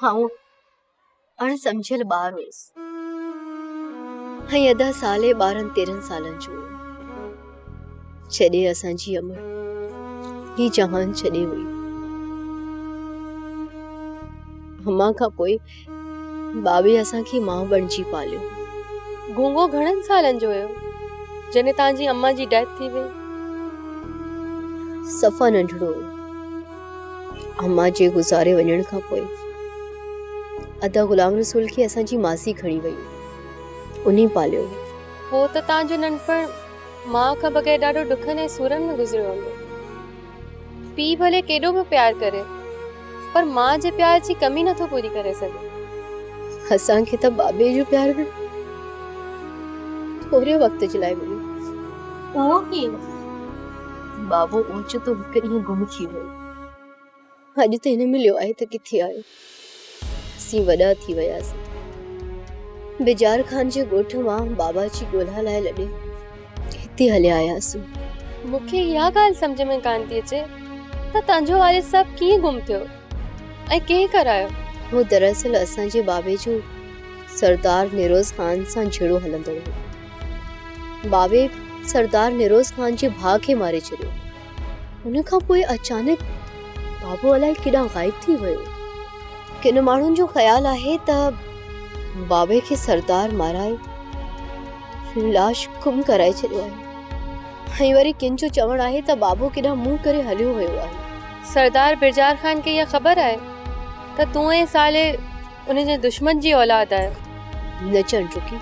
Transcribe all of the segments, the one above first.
آئون اڻ سمجهيل ٻار هيس ۽ ادا صالح ٻارهن تيرهن سالن جو هو جڏهن اسان جي امڙ هي جهان ڇڏي هئي امان کان پوء بابي اسان کي ماء بڻجي پاليو گونگو گهڻن سالن جو هيو جڏهن تنهنجي امان جي ڊيٿ ٿي وئي صفا ننڍڙو هو اما جي گذاري وڃڻ کان پوء ادا غلام رسول کي اسان جي ماسي کڻي وئي انهي پاليو هو ته تان جو ننڍپڻ ماء کان بغير ڏاڍو ڏکن ۽ سورن ۾ گذريو هوندو پيء ڀلي ڪيڏو به پيار ڪري پر ماء جي پيار جي ڪمي نٿو پوري ڪري سگهي اسان کي ته بابي جو پيار به ٿوري وقت جي لاء مليو اهو ڪيئن بابو اوچتو هڪ ڏينهن گم ٿي ويو. اڄ ته نه مليو آهي ته ڪٿي آهي؟ اسين وڏا ٿي وياسين. بجار خان جي ڳوٺ مان بابا جي ڳولها لاء لڏي هتي هليا آياسون. مون کي اها ڳالهه سمجهه ۾ ڪانه ٿي اچي ته تنهنجو والد صاحب ڪيئن گم ٿيو ۽ ڪنهن ڪرايو؟ هو دراصل اسان جي بابي جو سردار نيروز خان سان جهيڙو هلندڙ هو. ٻاوهي سردار نيروز خان جي ڀاء کي ماري ڇڏيو. ان کان پوء اچانڪ بابو الائي ڪيڏانهن غائب ٿي ويو. ڪن ماڻهن جو خيال آهي ته ٻاوهي کي سردار مارائي لاش گم ڪرائي ڇڏيو آهي ۽ وري ڪن جو چوڻ آهي ته ٻاوهو ڪيڏانهن منهن ڪري هليو ويو آهي. سردار برجار خان کي اها خبر آهي ته تون ۽ صالح ان جي دشمن جي اولاد آهي. نه چئڻ جو ڪي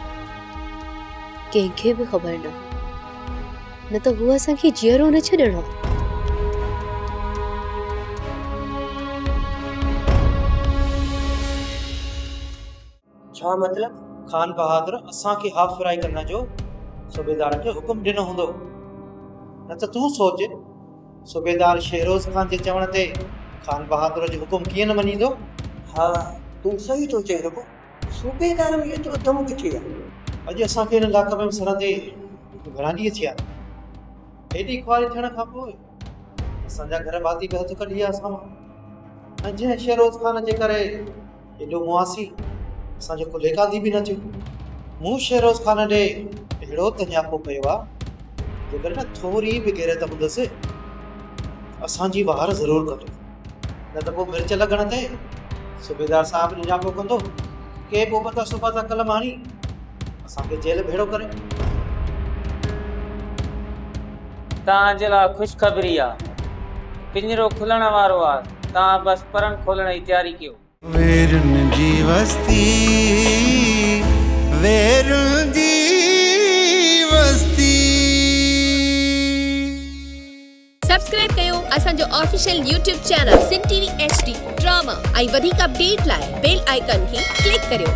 ڪنهن کي به خبر نه هو نه ته هو اسان کي جيئرو نه ڇڏڻ ها. ڇا مطلب خان بهادر اسان کي هاف فرائي ڪرڻ جو صوبيدار کي حڪم ڏنو هوندو نه ته تون سوچ صوبيدار شهروز خان جي چوڻ تي خان بهادر جو حڪم ڪيئن نه مڃيندو؟ ها، تون صحيح ٿو چئين ربو، صوبيدار ۾ ايترو دم ڪٿي آهي؟ اڄ اسان کي هن لاقبي ۾ سرن تي ورانڊي ٿي آهي. هيڏي خواري ٿيڻ کان پوء اسان جا گهر ڀاتي به هٿ ڪڍي ويا اسان مان ۽ جنهن شهروز خان جي ڪري ايڏو مئاسي، اسان جو ڪلهي ڪانڌي به نه ٿيو. مون شهروز خان ڏي اهڙو ته نياپو ڪيو آ، جيڪڏهن نه ٿوري به غيرت هوندس ته اسان جي وهر ضرور ڪندو، نه ته پوء مرچ لڳڻ تي صوبيدار صاحب نياپو ڪندو، ڪي بوبتا سوباتا قلم هڻي، اسان کي جيل ڀيڙو ڪري. توهان جي لاء خوشخبري آ. پڃرو کلڻ وارو آ. توهان بس پرن کولڻ جي تياري ڪيو. ويرن جي وستي ويرن جي وستي. سبسڪرائب ڪيو اسان جو official YouTube channel Sindh T V H D drama ۽ وڌيڪ اپڊيٽ لاء بيل آئيڪان کي ڪلڪ ڪريو.